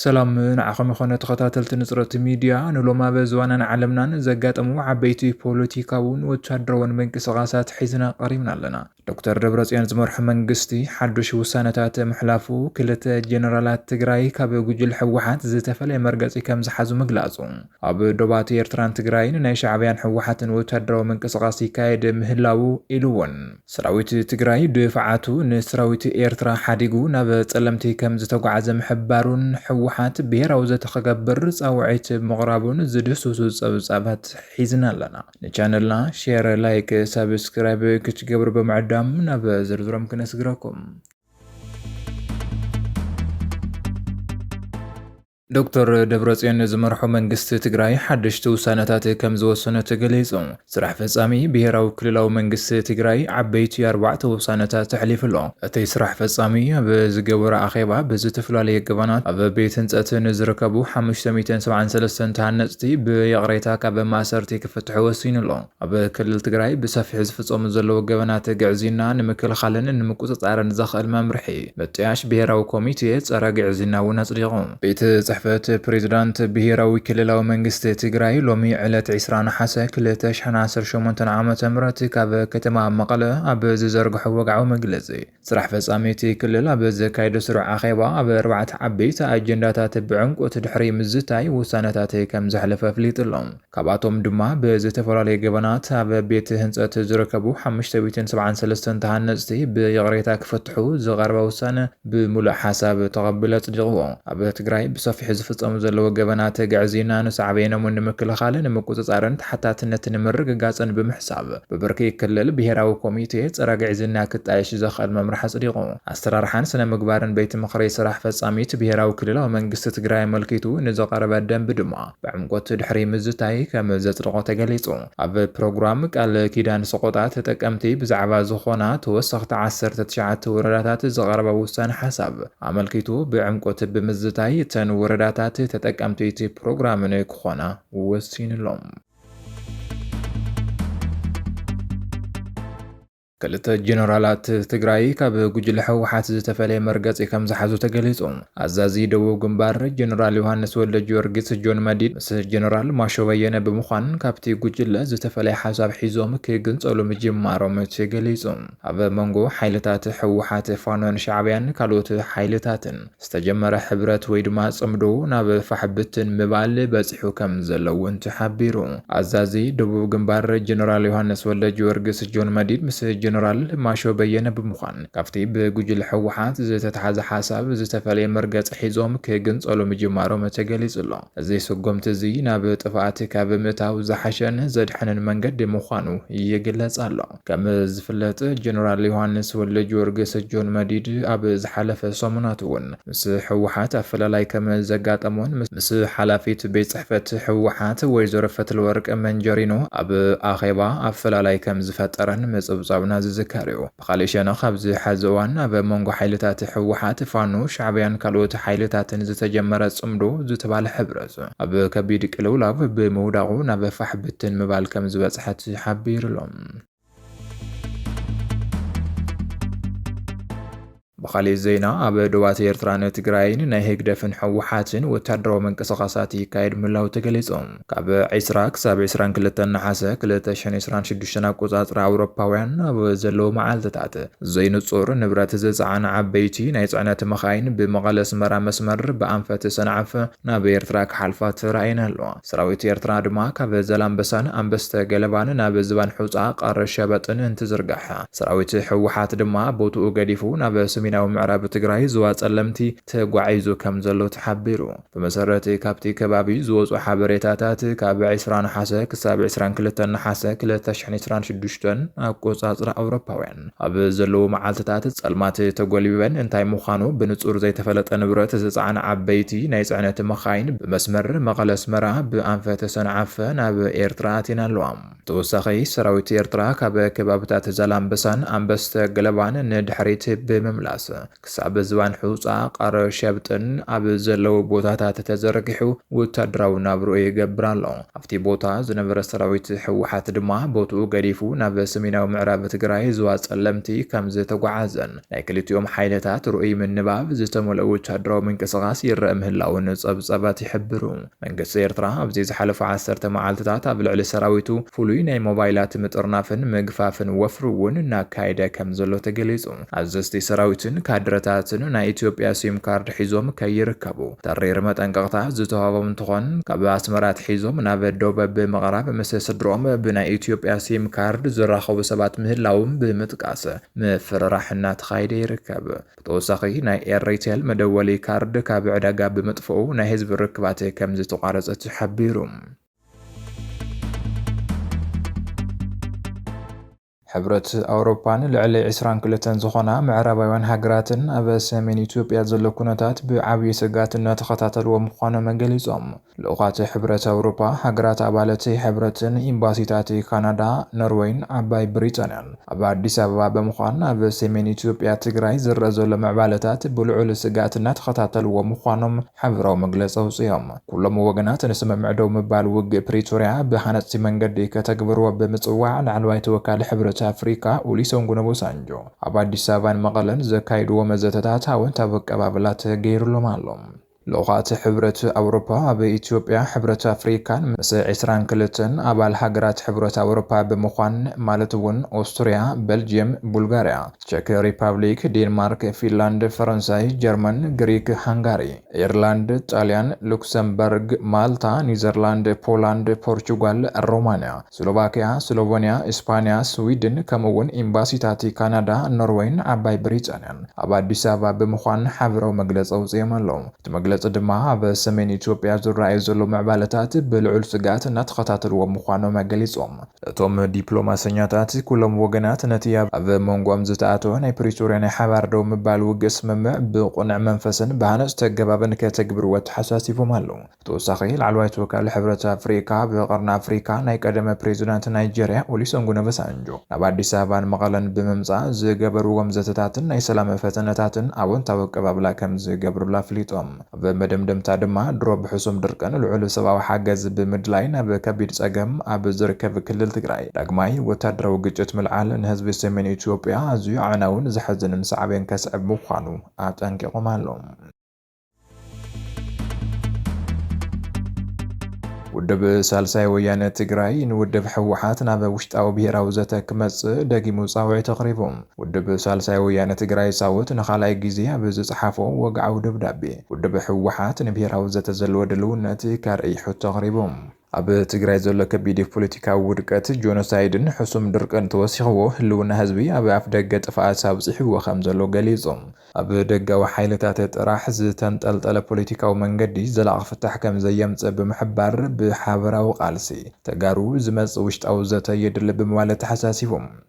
ሰላም ንዓኹም ይኾነ ተኸታተልቲ ንፅረት ሚድያ ንሎም ኣብ ዝዋናን ዓለምናን ዘጋጠሙ ዓበይቲ ፖለቲካውን ወታደራውን ምንቅስቓሳት ሒዝና ቀሪብና ኣለና። ዶክተር ደብረፅዮን ዝመርሖ መንግስቲ ሓዱሽ ውሳነታት ምሕላፉ ክልተ ጀነራላት ትግራይ ካብ ጉጅለ ህወሓት ዝተፈለየ መርገፂ ከም ዝሓዙ ምግላፁ፣ ኣብ ዶባት ኤርትራን ትግራይን ናይ ሻዕብያን ህወሓትን ወታደራዊ ምንቅስቓስ ይካየድ ምህላዉ ኢሉ'ውን፣ ሰራዊት ትግራይ ድፋዓቱ ንሰራዊት ኤርትራ ሓዲጉ ናብ ፀለምቲ ከም ዝተጓዕዘ ምሕባሩን ህወሓት ብሄራዊ ዘተ ክገብር ፃውዒት ምቕራቡን ዝድህስሱ ፀብፃባት ሒዝና ኣለና። ንቻነልና ሼር ላይክ ሳብስክራይብ ክትገብሩ ብምዕዳም ናብ ዝርዝሮም ክነስግረኩም ዶክተር ደብረጽዮን ዝመርሖ መንግስቲ ትግራይ ሓደሽቲ ውሳነታት ከም ዝወሰነ ተገሊጹ። ስራሕ ፈጻሚ ብሄራዊ ክልላዊ መንግስቲ ትግራይ ዓበይቲ ኣርባዕተ ውሳነታት ተሕሊፉ ኣሎ። እቲ ስራሕ ፈፃሚ ኣብ ዝገበሮ ኣኼባ ብዝተፈላለየ ገበናት ኣብ ቤት ህንፀት ንዝርከቡ ሓሙሽተ ሚእትን ሰብዓን ሰለስተን ተሃነፅቲ ብይቕሬታ ካብ ማእሰርቲ ክፍትሑ ወሲኑ ኣሎ። ኣብ ክልል ትግራይ ብሰፊሑ ዝፍፀሙ ዘለዉ ገበናት ግዕዝይና ንምክልኻልን ንምቁፅፃርን ዘኽእል መምርሒ ምጥያሽ ብሄራዊ ኮሚቴ ፀረ ግዕዝይና እውን ኣፅዲቑ። ቤት ፅሕፈት ፕሬዚዳንት ብሄራዊ ክልላዊ መንግስቲ ትግራይ ሎሚ ዕለት 20 ነሓሰ 2018 ዓ.ም ካብ ከተማ መቐለ ኣብ ዝዘርግሖ ወግዓዊ መግለፂ ስራሕ ፈፃሚ እቲ ክልል ኣብ ዘካየዶ ስሩዕ ኣኼባ ኣብ ኣርባዕተ ዓበይቲ ኣጀንዳታት ብዕምቆት ድሕሪ ምዝታይ ውሳነታት ከምዘሕለፈ ኣፍሊጡሎም። ካብኣቶም ድማ ብዝተፈላለዩ ገበናት ኣብ ቤት ህንፀት ዝርከቡ ሓሙሽተ ሚእትን ሰብዓን ሰለስተን ተሃነፅቲ ብይቕሬታ ክፍትሑ ዝቐረበ ውሳነ ብሙሉእ ሓሳብ ተቐቢሉ ኣፅዲቕዎ። ኣብ ትግራይ ብሰፊሑ ዝፍፀሙ ዘለዉ ገበናት ግዕዝይና ንሳዕቤኖም ንምክልኻል፣ ንምቁፅፃርን ተሓታትነት ንምርግጋፅን ብምሕሳብ ብብርኪ ክልል ብሄራዊ ኮሚቴ ፀረ ግዕዝይና ክጣየሽ ዘኽእል መምርሒ ኣፅዲቑ። ኣሰራርሓን ስነ ምግባርን ቤት ምኽሪ ስራሕ ፈፃሚት ብሄራዊ ክልላዊ መንግስቲ ትግራይ ኣመልኪቱ ንዝቐረበ ደንቢ ድማ ብዕምቆት ድሕሪ ምዝታይ ከም ዘጽደቖ ተገሊጹ። ኣብ ፕሮግራም ቃል ኪዳን ሰቖጣ ተጠቀምቲ ብዛዕባ ዝኾና ተወሰኽቲ ዓሰርተ ትሽዓተ ወረዳታት ዝቐረበ ውሳነ ሓሳብ ኣመልኪቱ ብዕምቆት ብምዝታይ እተን ወረዳታት ተጠቀምቲ እቲ ፕሮግራም ንክኾና ወሲንሎም። ክልተ ጀነራላት ትግራይ ካብ ጉጅለ ህወሓት ዝተፈለየ መርገፂ ከምዝሓዙ ተገሊፁ። ኣዛዚ ደቡብ ግንባር ጀነራል ዮሃንስ ወልደጊዮርጊስ፣ ጆን መዲድ፣ ምስ ጀነራል ማሾ በየነ ብምዃን ካብቲ ጉጅለ ዝተፈለየ ሓሳብ ሒዞም ክግንፀሉ ምጅማሮም ተገሊፁ። ኣብ መንጎ ሓይልታት ህወሓት፣ ፋኖን ሻዕቢያን ካልኦት ሓይልታትን ዝተጀመረ ሕብረት ወይ ድማ ጽምዶ ናብ ፋሕ ብትን ምባል በጺሑ ከም ዘሎ እውን ተሓቢሩ። ኣዛዚ ደቡብ ግንባር ጀነራል ዮሃንስ ወልደጊዮርግስ፣ ጆን መዲድ፣ ምስ ጀነራል ማሾ በየነ ብምዃን ካብቲ ብጉጅለ ህወሓት ዝተትሓዘ ሓሳብ ዝተፈለየ መርገጺ ሒዞም ክግንጸሉ ምጅማሮም ተገሊጹ ኣሎ። እዚ ስጉምቲ እዚ ናብ ጥፍኣት ካብ ምእታው ዝሓሸን ዘድሕንን መንገዲ ምዃኑ ይግለጽ ኣሎ። ከም ዝፍለጥ ጀነራል ዮሃንስ ወልደጊዮርግስ፣ ጆን መዲድ፣ ኣብ ዝሓለፈ ሰሙናት እውን ምስ ህወሓት ኣፈላላይ ከም ዘጋጠሞን ምስ ሓላፊት ቤት ፅሕፈት ህወሓት ወይዘሮ ፈትለወርቅ መንጀሪኖ ኣብ ኣኼባ ኣፈላላይ ከም ዝፈጠረን ምፅብፃብና ዝዝከር እዩ። ብኻሊእ ሸነኽ ኣብዚ ሐዚ እዋን ኣብ መንጎ ሓይልታት ህወሓት፣ ፋኖ፣ ሻዕቢያን ካልኦት ሓይልታትን ዝተጀመረ ፅምዶ ዝተባለ ሕብረ ጸኒሑ'ሎ። ኣብ ከቢድ ቅልውላው ብምውዳቑ ናብ ፋሕ ብትን ምባል ከም ዝበጽሐ ተሓቢሩ'ሎ። ብኻሊእ ዜና ኣብ ዶባት ኤርትራን ትግራይን ናይ ህግደፍን ህወሓትን ወታደራዊ ምንቅስቓሳት ይካየድ ምህላው ተገሊጹ። ካብ ዕስራ ክሳብ ዕስራን ክልተን ነሓሰ ክልተ ሽሕን ዕስራን ሽዱሽተን ኣቆጻጽራ ኣውሮፓውያን ኣብ ዘለዉ መዓልትታት ዘይንጹር ንብረት ዝጸዓና ዓበይቲ ናይ ጽዕነት መኻይን ብመቐለ-ኣስመራ መስመር ብኣንፈት ሰንዓፈ ናብ ኤርትራ ክሓልፋ ተራእየን ኣለዋ። ሰራዊት ኤርትራ ድማ ካብ ዛላምበሳን ኣንበስተ ገለባን ናብ ዝባን ሑጻ፣ ቐር ሸበጥን እንትዝርጋሕ፣ ሰራዊት ህወሓት ድማ ቦትኡ ገዲፉ ናብ ሰሜናዊ ምዕራብ ትግራይ ዞባ ጸለምቲ ተጓዒዙ ከም ዘሎ ተሓቢሩ። ብመሰረት ካብቲ ከባቢ ዝወጹ ሓበሬታታት ካብ ዕስራ ነሓሰ ክሳብ ዕስራን ክልተን ነሓሰ ክልተ ሽሕን ዕስራን ሽዱሽተን ኣቆጻጽራ ኣውሮፓውያን፣ ኣብ ዘለዉ መዓልትታት ጸልማት ተጎልቢበን እንታይ ምዃኑ ብንጹር ዘይተፈለጠ ንብረት ዝጸዓና ዓበይቲ ናይ ጽዕነት መኻይን ብመስመር መቐለ-ኣስመራ ብኣንፈት ሰንዓፈ ናብ ኤርትራ ኣትየን ኣለዋ። ብተወሳኺ ሰራዊት ኤርትራ ካብ ከባብታት ዛላምበሳን ኣንበስተ ገለባን ንድሕሪት ብምምላስ ክሳብ ዝባን ሑጻ ቃረ ሸብጥን ኣብ ዘለዉ ቦታታት ተዘርጊሑ ወታደራዊ ናብርኡ ይገብር ኣሎ። ኣብቲ ቦታ ዝነበረ ሰራዊት ህወሓት ድማ ቦትኡ ገዲፉ ናብ ሰሜናዊ ምዕራብ ትግራይ ዞባ ፀለምቲ ከም ዝተጓዓዘን ናይ ክልቲኦም ሓይልታት ርኡይ ምንባብ ዝተመልኦ ወታደራዊ ምንቅስቓስ ይረኣ ምህላዉን ፀብፃባት ይሕብሩ። መንግስቲ ኤርትራ ኣብዚ ዝሓለፉ ዓሰርተ መዓልትታት ኣብ ልዕሊ ሰራዊቱ ፍሉይ ናይ ሞባይላት ምጥርናፍን ምግፋፍን ወፍሪ እውን እናካየደ ከምዘሎ ተገሊጹ። ኣዘዝቲ ሰራዊትን ካድረታትን ናይ ኢትዮጵያ ሲም ካርድ ሒዞም ከይርከቡ ተሪር መጠንቀቕታ ዝተዋህቦም እንትኾን ካብ ኣስመራ ኣትሒዞም ናብ ዶብ ብምቕራብ ምስ ስድርኦም ብናይ ኢትዮጵያ ሲም ካርድ ዝራኸቡ ሰባት ምህላዎም ብምጥቃስ ምፍርራሕ እናተኻየደ ይርከብ። ብተወሳኺ ናይ ኤሪቴል መደወሊ ካርድ ካብ ዕዳጋ ብምጥፍኡ ናይ ህዝቢ ርክባት ከምዝተቋረፀ ተሓቢሩ። ሕብረት ኣውሮፓን ልዕሊ ዕስራን ክልተን ዝኾና ምዕራባውያን ሃገራትን ኣብ ሰሜን ኢትዮጵያ ዘሎ ኩነታት ብዓብዪ ስግኣት እናተኸታተልዎ ምዃኖም ገሊፆም። ልኡኻት ሕብረት ኣውሮጳ፣ ሃገራት ኣባል'ቲ ሕብረትን ኢምባሲታት ካናዳ፣ ኖርወይን ዓባይ ብሪጣንያን ኣብ ኣዲስ ኣበባ ብምዃን ኣብ ሰሜን ኢትዮጵያ ትግራይ ዝረኣ ዘሎ ምዕባለታት ብልዑል ስግኣት እናተኸታተልዎ ምዃኖም ሓበራዊ መግለፂ ኣውፂኦም። ኩሎም ወገናት ንስምምዕ ደው ምባል ውግእ ፕሪቶርያ ብሃነፅቲ መንገዲ ከተግብርዎ ብምፅዋዕ ላዕለዋይ ተወካሊ ሕብረት ኣፍሪካ ኡሊሰንጉን ኦቦሳንጆ ኣብ ኣዲስ ኣበባን መቐለን ዘካይድዎ መዘተታት ኣወንታዊ ኣቀባብላ ተገይርሎም ኣሎ። ልኡኻት ሕብረት ኣውሮፓ ኣብ ኢትዮጵያ፣ ሕብረት ኣፍሪካን ምስ ዕስራን ክልተን ኣባል ሃገራት ሕብረት ኣውሮፓ ብምዃን ማለት እውን ኦስትሪያ፣ በልጅየም፣ ቡልጋሪያ፣ ቸክ ሪፓብሊክ፣ ዴንማርክ፣ ፊንላንድ፣ ፈረንሳይ፣ ጀርመን፣ ግሪክ፣ ሃንጋሪ፣ ኤርላንድ፣ ጣልያን፣ ሉክሰምበርግ፣ ማልታ፣ ኒዘርላንድ፣ ፖላንድ፣ ፖርቹጋል፣ ሮማንያ፣ ስሎቫክያ፣ ስሎቨንያ፣ እስፓንያ፣ ስዊድን ከምኡ እውን ኤምባሲታት ካናዳ፣ ኖርወይን ዓባይ ብሪጣንያን ኣብ ኣዲስ ኣበባ ብምዃን ሓበራዊ መግለፂ ኣውፂኦም ኣለው። እቲ መግለፂ ድማ ኣብ ሰሜን ኢትዮጵያ ዝረኣዩ ዘለው ምዕባለታት ብልዑል ስግኣት እናተኸታተልዎም ምዃኖም ገሊፆም። እቶም ዲፕሎማሰኛታት ኩሎም ወገናት ነቲ ኣብ ሞንጎኦም ዝተኣተወ ናይ ፕሪቶርያ ናይ ሓባር ደው ምባል ውግእ ስምምዕ ብቕኑዕ መንፈስን ብሃነፅቲ ኣገባብን ከተግብርዎ ኣተሓሳሲቦም ኣለው። ብተወሳኺ ላዕለዋይ ተወካሊ ሕብረት ኣፍሪካ ብቀርኒ ኣፍሪካ ናይ ቀደመ ፕሬዚዳንት ናይጀሪያ ኦሊሰንጉን ኦበሳንጆ ናብ ኣዲስ ኣበባን መቐለን ብምምፃእ ዝገበርዎም ዘተታትን ናይ ሰላም ፈተነታትን ኣወንታዊ ኣቀባብላ ከምዝገብርሉ ኣፍሊጦም። ኣብ መደምደምታ ድማ ድሮ ብሕሱም ድርቅን ልዑል ሰብኣዊ ሓገዝ ብምድላይ ናብ ከቢድ ፀገም ኣብ ዝርከብ ክልል ትግራይ ዳግማይ ወታደራዊ ግጭት ምልዓል ንህዝቢ ሰሜን ኢትዮጵያ ኣዝዩ ኣዕናውን ዘሕዝንን ሳዕቤን ከስዕብ ምዃኑ ኣጠንቂቖም ኣለው። ውድብ ሳልሳይ ወያነ ትግራይ ንውድብ ህወሓት ናብ ውሽጣዊ ብሄራዊ ዘተ ክመጽእ ደጊሙ ጻውዒት ኣቕሪቡ። ውድብ ሳልሳይ ወያነ ትግራይ ሳውት ንኻልኣይ ግዜ ኣብ ዝጸሓፎ ወግዓዊ ደብዳቤ፣ ውድብ ህወሓት ንብሄራዊ ዘተ ዘለዎ ድልውነት ከርእይ ሕቶ ኣቕሪቡ። ኣብ ትግራይ ዘሎ ከቢድ ፖለቲካዊ ውድቀት፣ ጆኖሳይድን ሕሱም ድርቅን ተወሲኽዎ ህልውና ህዝቢ ኣብ ኣፍደገ ጥፍኣት ኣብፂሕዎ ከምዘሎ ገሊፁ። ኣብ ደጋዊ ሓይልታት ጥራሕ ዝተንጠልጠለ ፖለቲካዊ መንገዲ ዘላቒ ፍታሕ ከምዘየምፅእ ብምሕባር፣ ብሓበራዊ ቃልሲ ተጋሩ ዝመፅእ ውሽጣዊ ዘተ የድሊ ብምባል ኣተሓሳሲቡ።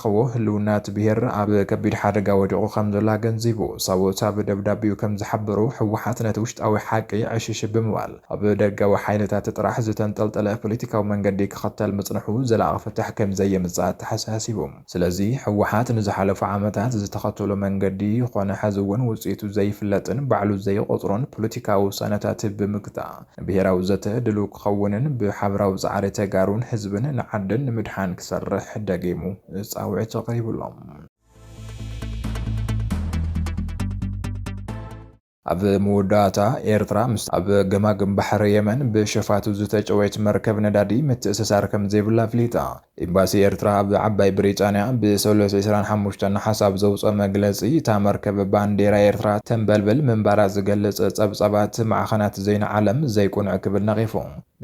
ክኸው ህልውና እቲ ብሄር ኣብ ከቢድ ሓደጋ ወዲቑ ከምዘሎ ኣገንዚቡ። ሰብኡት ኣብ ደብዳቤኡ ከምዝሓበርዎ፣ ህወሓት ነቲ ውሽጣዊ ሓቂ ዕሽሽ ብምባል ኣብ ደጋዊ ሓይልታት ጥራሕ ዝተንጠልጠለ ፖለቲካዊ መንገዲ ክኸተል ምፅንሑ ዘላቒ ፍታሕ ከምዘየምፅእ ኣተሓሳሲቡ። ስለዚ ህወሓት ንዝሓለፉ ዓመታት ዝተኸተሎ መንገዲ ኾነ ሐዚ እውን ውፅኢቱ ዘይፍለጥን ባዕሉ ዘይቖፅሮን ፖለቲካዊ ውሳነታት ብምግታእ፣ ብሄራዊ ዘተ ድሉው ክኸውንን ብሓብራዊ ፃዕሪ ተጋሩን ህዝብን ንዓድን ንምድሓን ክሰርሕ ደጊሙ ፃውዒት ኣቕሪቡ ኣሎ። ኣብ መወዳእታ፣ ኤርትራ ምስታ ኣብ ገማግም ባሕሪ የመን ብሸፋቱ ዝተጨወየት መርከብ ነዳዲ ምትእስሳር ከምዘይብላ ኣፍሊጣ። ኤምባሲ ኤርትራ ኣብ ዓባይ ብሪጣንያ ብሰሉስ ዕስራን ሓሙሽተን ነሓስ ኣብ ዘውጽኦ መግለጺ፣ እታ መርከብ ባንዴራ ኤርትራ ተንበልብል ምንባራ ዝገልጽ ጸብጻባት ማዕኸናት ዜና ዓለም ዘይቅኑዕ ክብል ነቒፉ።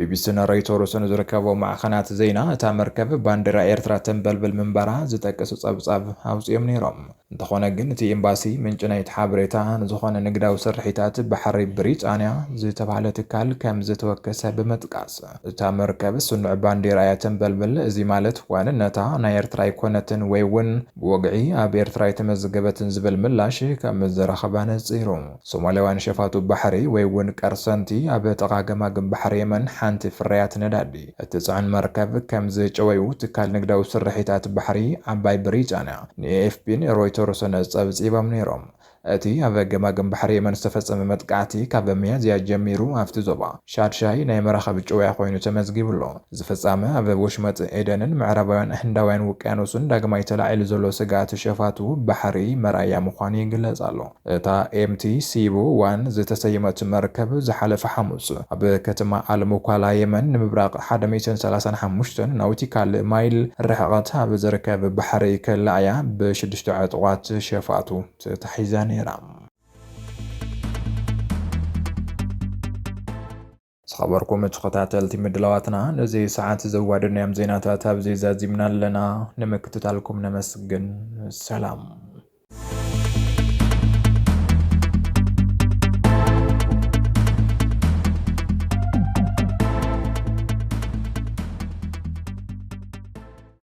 ቢቢሲን ሮይተርስን ዝርከቦ ማዕኸናት ዜና፣ እታ መርከብ ባንዴራ ኤርትራ ተንበልብል ምንባራ ዝጠቅስ ጸብጻብ ኣውጺኦም ነይሮም። እንተኾነ ግን እቲ ኤምባሲ ምንጪ ናይቲ ሓበሬታ ንዝኾነ ንግዳዊ ስርሒታት ባሕሪ ብሪጣንያ ዝተብሃለ ትካል ከምዝተወከሰ ብምጥቃስ እታ መርከብ ስኑዕ ባንዴራ እያ ተንበልብል እዚ ማለት ዋንነታ ናይ ኤርትራ ኣይኮነትን ወይ'ውን ብወግዒ ኣብ ኤርትራ ኣይተመዝገበትን ዝብል ምላሽ ከምዝረኸበ ኣነጺሩ። ሶማልያውያን ሸፋቱ ባሕሪ ወይ እውን ቀርሰንቲ ኣብ ጥቓ ገማግም ባሕሪ የመን ሓንቲ ፍርያት ነዳዲ እትጽዕን መርከብ ከም ዝጨወዩ ትካል ንግዳዊ ስርሒታት ባሕሪ ዓባይ ብሪጣንያ ንኤኤፍፒን ሮይተርስን ጸብጺቦም ነይሮም። እቲ ኣብ ገማግም ባሕሪ የመን ዝተፈጸመ መጥቃዕቲ ካብ ሚያዝያ ጀሚሩ ኣብቲ ዞባ ሻድሻይ ናይ መራኽብ ጭውያ ኮይኑ ተመዝጊቡ ኣሎ። እዚ ፍጻመ ኣብ ወሽመጥ ኤደንን ምዕራባውያን ህንዳውያን ውቅያኖስን ዳግማይ ተላዒሉ ዘሎ ስግኣት ሸፋቱ ባሕሪ መርኣያ ምዃኑ ይግለጽ ኣሎ። እታ ኤምቲ ሲቡ ዋን ዝተሰየመት መርከብ ዝሓለፈ ሓሙስ ኣብ ከተማ ኣል-ሙኳላ የመን ንምብራቕ ሓደ ሚእትን ሰላሳን ሓሙሽተን ናውቲካል ማይል ርሕቐት ኣብ ዝርከብ ባሕሪ ከላ እያ ብሽዱሽተ ዕጡቓት ሸፋቱ ተታሒዛ ነይራ። ዝኸበርኩም ተኸታተልቲ ምድላዋትና ነዚ ሰዓት ዘዋደድናዮም ዜናታት ኣብዚ ዛዚምና ኣለና። ንምክትታልኩም ነመስግን። ሰላም።